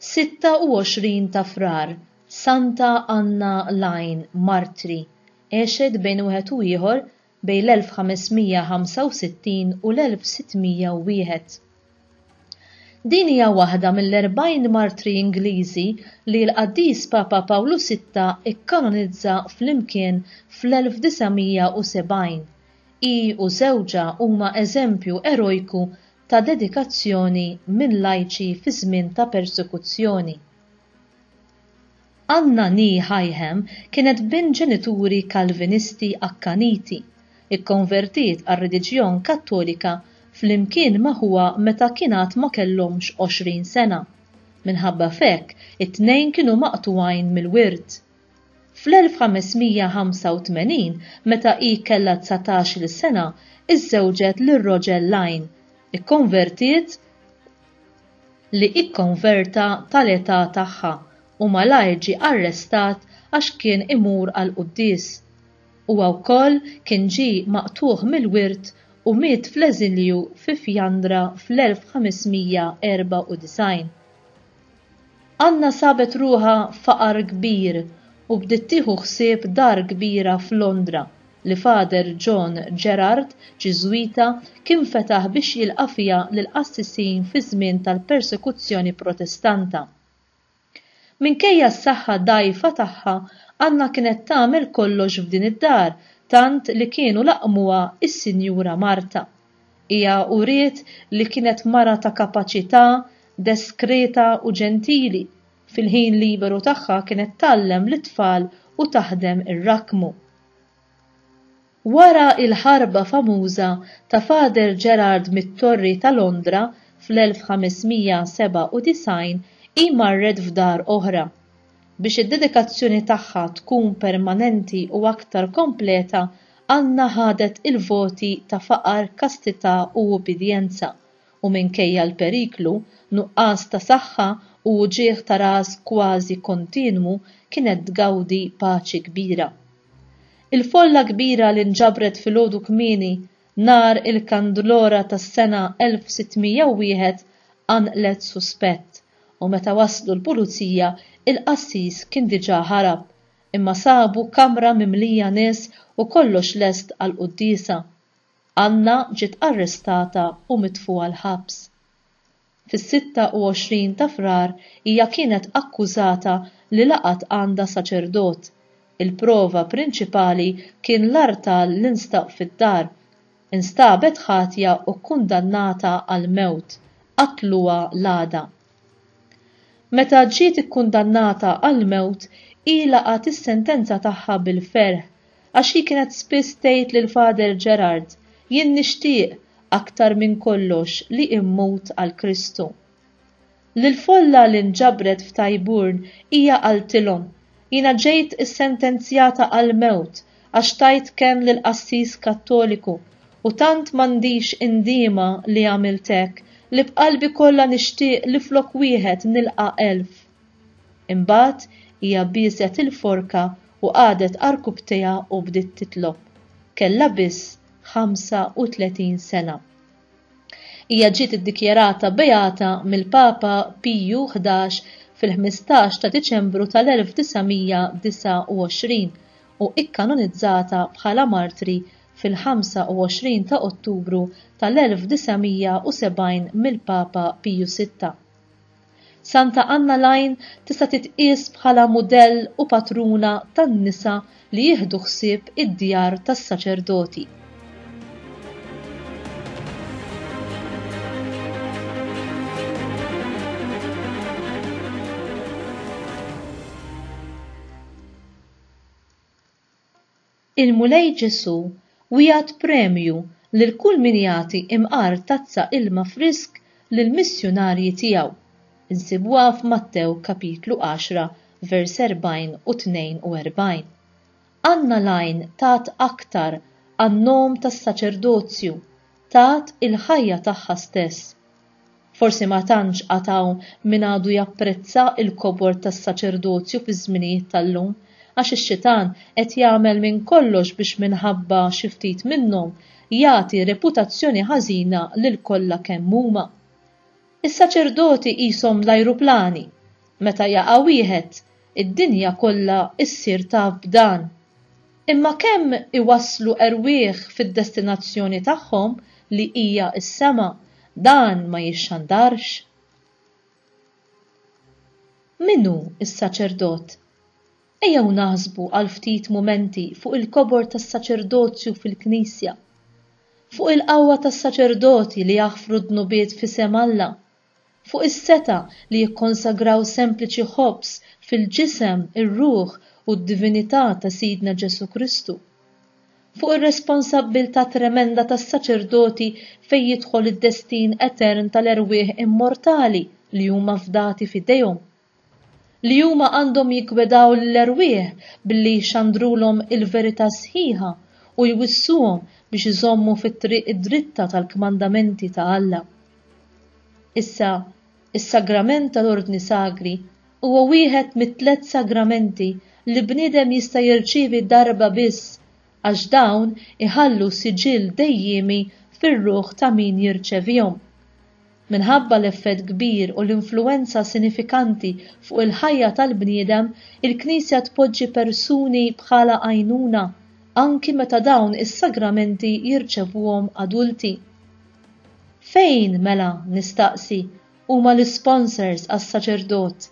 26 ta' Frar, Santa Anna Lajn, Martri, għexet bejn wieħed u ieħor bejn l-1565 u l-1601. Din hija waħda mill-40 martri Ingliżi li l-Qaddis Papa Pawlu Sitta kkanonizza flimkien fl-1970. Hi u żewġha huma eżempju erojku ta' dedikazzjoni minn lajċi fi żmien ta' persekuzzjoni. Anna Nee Hyham kienet bint ġenituri Kalvinisti akkaniti. Ikkonvertiet għar-reliġjon Kattolika flimkien ma' ħuha meta kien għad ma kellhomx għoxrin sena. Minħabba f'hekk, it-tnejn kienu maqtugħin mill-wirt. Fl-1585, meta hi kellha dsatax-il sena, iżżewġet lil Roger Lyne. Ikkonvertiet. li ikkonverta tal-età tagħha u malajr ġie arrestat għax kien imur għall-quddies. Huwa wkoll kien ġie maqtugħ mill-wirt u miet fl-eżilju fi Fjandra fl-1594. Anna sabet ruħha f'faqar kbir u bdiet tieħu ħsieb dar kbira f'Londra li Father John Gerard, Ġiżwita, kien fetaħ biex jilqa' fiha lill-qassisin fiż-żmien tal-persekuzzjoni Protestanta. Minkejja s-saħħa dgħajfa tagħha, Anna kienet tagħmel kollox f'din id-dar tant li kienu laqqmuha s-Sinjura Marta, Hija uriet li kienet mara ta' kapaċità, deskreta u ġentili. Fil-ħin liberu tagħha kienet tgħallem lit-tfal u taħdem ir-rakkmu. Wara l-ħarba famuża ta' Father Gerard mit-Torri ta' Londra fl-1597, hi marret f'dar oħra, Biex id-dedikazzjoni tagħha tkun permanenti u aktar kompleta, Anna ħadet il-voti ta' faqar, kastità u ubbidjenza, u minkejja l-periklu, nuqqas ta' saħħa u uġigħ ta' ras kważi kontinwu kienet tgawdi paċi kbira. Il-folla kbira li nġabret filgħodu kmieni Nhar il-Kandlora tas-sena 1601 qanqlet suspett u meta waslu l-pulizija il-qassis kien diġà ħarab, imma sabu kamra mimlija nies u kollox lest għall-quddiesa. Anna ġiet arrestata u mitfugħa l-ħabs. Fis-26 ta' Frar hija kienet akkużata li laqgħet għandha saċerdot. Il-prova prinċipali kien l-artal li nstab fid-dar. Instabet ħatja u kkundannata għall-mewt. Qatluha l-għada. Meta ġiet ikkundannata għall-mewt, hi laqgħet is-sentenza tagħha bil-ferħ. Għax hi kienet spiss tgħid lil Father Gerard, Jien nixtieq, aktar minn kollox, li immut għal Kristu. Lill-folla li nġabret f'Tyburn hija qaltilhom, Jiena ġejt issentenzjata għall-mewt għax tajt kenn lil qassis Kattoliku u tant m'għandix indiema li għamilt hekk li b'qalbi kollha nixtieq li flok wieħed nilqa' elf. Imbagħad hija bieset il-forka u qagħdet għarkupptejha u bdiet titlob. Kellha biss 35 sena. Hija ġiet iddikjarata beata mill-Papa Piju Ħdax fil-ħmistax ta' Diċembru tal-1929 u ikkanonizzata bħala martri fil-25 ta' Ottubru tal-1970 mill-Papa Piju Sitta. Santa Anna Lajn tista' titqies bħala mudell u patruna tan-nisa li jieħdu ħsieb id-djar tas-saċerdoti. Il-Mulej Ġesù wiegħed premju lil kull min jagħti imqar tazza ilma frisk lill-missjunarji tiegħu. Insibuha f'Mattew kapitlu għaxra vers 40 u 42. Anna l-Għajn tat aktar għan-nom tas-saċerdozju, tat il-ħajja tagħha stess. Forsi ma tantx għad hawn min għadu japprezza l-kobor tas-saċerdozju fiż-żminijiet tal-lum, għax ix-xitan qed jagħmel minn kollox biex minħabba xi ftit minnhom jagħti reputazzjoni ħażina lil kollha kemm huma. Is-saċerdoti qishom l-ajruplani, meta jaqa' wieħed, Id-dinja kollha ssir taf b'dan. Imma kemm iwasslu erwieħ fid-destinazzjoni tagħhom li hija s-sema, dan ma jixxandarx. Min hu s-saċerdot? Ejjew naħsbu għal ftit mumenti fuq il-kobor tas-saċerdozju fil-Knisja. Fuq il-qawwa tas-saċerdoti li jaħfru d-dnubiet f'isem Alla fuq is-setgħa li jikkonsagraw sempliċi ħobż fil-ġisem, ir-ruħ u d-divinità ta' Sidna Ġesù Kristu, fuq ir-responsabbiltà tremenda tas-saċerdoti fejn jidħol id-destin etern tal-erwieħ immortali li huma fdati f'idejhom, li huma għandhom jiggwedaw lill-erwieħ billi jxandrulhom il-verità sħiħa u jwissuhom biex iżommu fit-triq id-dritta tal-kmandamenti ta' Alla. Issa, is-sagrament tal-ordni sagri huwa wieħed mit-tliet sagramenti li bniedem jista' jirċievi darba biss għax dawn iħallu siġill dejjiemi fir-ruħ ta' min jirċevihom. Minħabba l-effett kbir u l-influwenza sinifikanti fuq il-ħajja tal-bniedem, il-Knisja tpoġġi persuni bħala għajnuna, anki meta dawn is-sagramenti jirċevuhom adulti. Fejn, mela, nistaqsi, huma l-isponsors għas-saċerdot?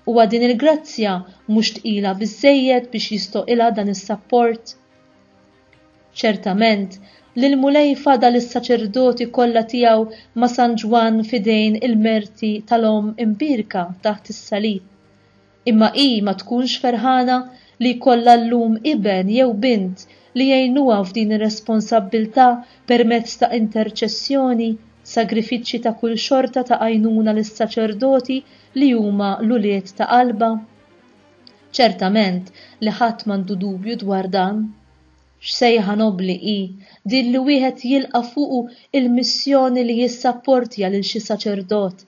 Huwa din il-grazzja mhux tqila biżżejjed biex jistoqilha dan is-sapport? Ċertament li l-Mulej fadal is-saċerdoti kollha tiegħu ma' San Ġwann f'idejn il-merti tal-Omm Imbierka taħt is-Salib. Imma hi ma tkunx ferħana li jkollha llum iben jew bint li jgħinuha f'din ir-responsabbiltà permezz ta' interċessjoni, sagrifiċċji ta' kull xorta ta' għajnuna lis-saċerdoti li huma l-ulied ta' qalbha? Ċertament li ħadd m'għandu dubju dwar dan. X'sejħa nobbli hi din li wieħed jilqa' fuqu l-missjoni li jissapportja lil xi saċerdot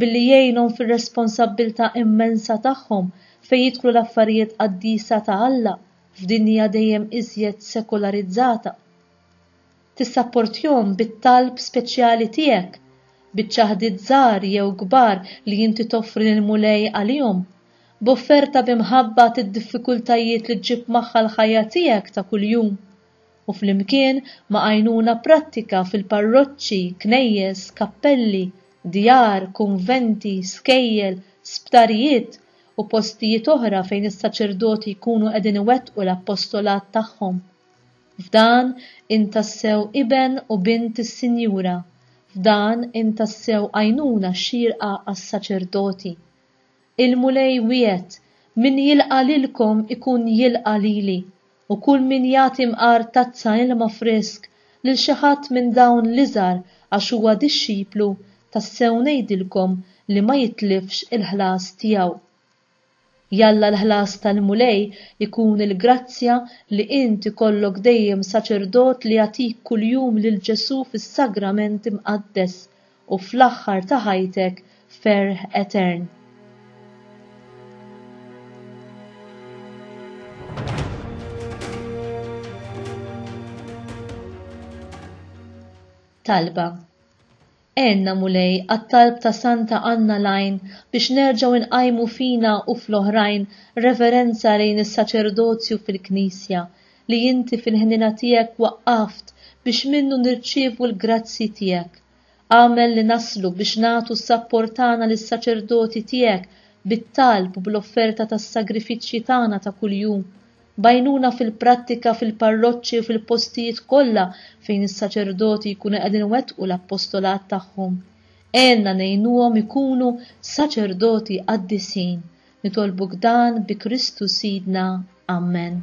billi jgħinhom fir-responsabbiltà immensa tagħhom fejn jidħlu l-affarijiet qaddisa ta' Alla f'dinja dejjem iżjed sekularizzata! Tissapportjhom bit-talb speċjali tiegħek, biċ-ċaħdiet żgħar jew kbar li inti toffri lill-Mulej għalihom, b'offerta bi mħabba tad-diffikultajiet li ġġib magħha l-ħajja tiegħek ta' kuljum, u flimkien ma' għajnuna prattika fil-parroċċi, knejjes, kappelli, djar, kunventi, skejjel, sptarijiet, u postijiet oħra fejn is-saċerdoti jkunu qegħdin iwettqu l-appostolat tagħhom. F'dan int tassew iben u bint is-Sinjura, f'dan int tassew għajnuna xierqa għas-saċerdoti. Il-Mulej wiegħed, Min jilqa' lilkom ikun jilqa' lili, u kull min jagħti mqar tazza ilma frisk lil xi ħadd minn dawn l-iżgħar għax huwa dixxiplu, tassew ngħidilkom li ma jitlifx il-ħlas tiegħu. Jalla l-ħlas tal-Mulej ikun il-grazzja li int ikollok dejjem saċerdot li jagħtik kuljum lil Ġesù fis-Sagrament Imqaddes u fl-aħħar ta' ħajtek ferħ etern. Talba. Għenna Mulej għat-talb ta' Santa Anna l-Għajn biex nerġgħu nqajmu fina u fl-oħrajn reverenza lejn is-saċerdozju fil-Knisja li inti fil-ħniena tiegħek waqqaft biex minnu nirċievu l-grazzji tiegħek. Agħmel li naslu biex nagħtu s-sapport tagħna lis-saċerdoti tiegħek bit-talb u bl-offerta tas-sagrifiċċji tagħna ta' kuljum B'għajnuna fil-prattika fil-parroċċi u fil-postijiet kollha fejn is-saċerdoti jkunu qegħdin iwettqu l-appostolat tagħhom. Għenna ngħinuhom ikunu saċerdoti qaddisin. Nitolbuk dan bi Kristu Sidna. Ammen.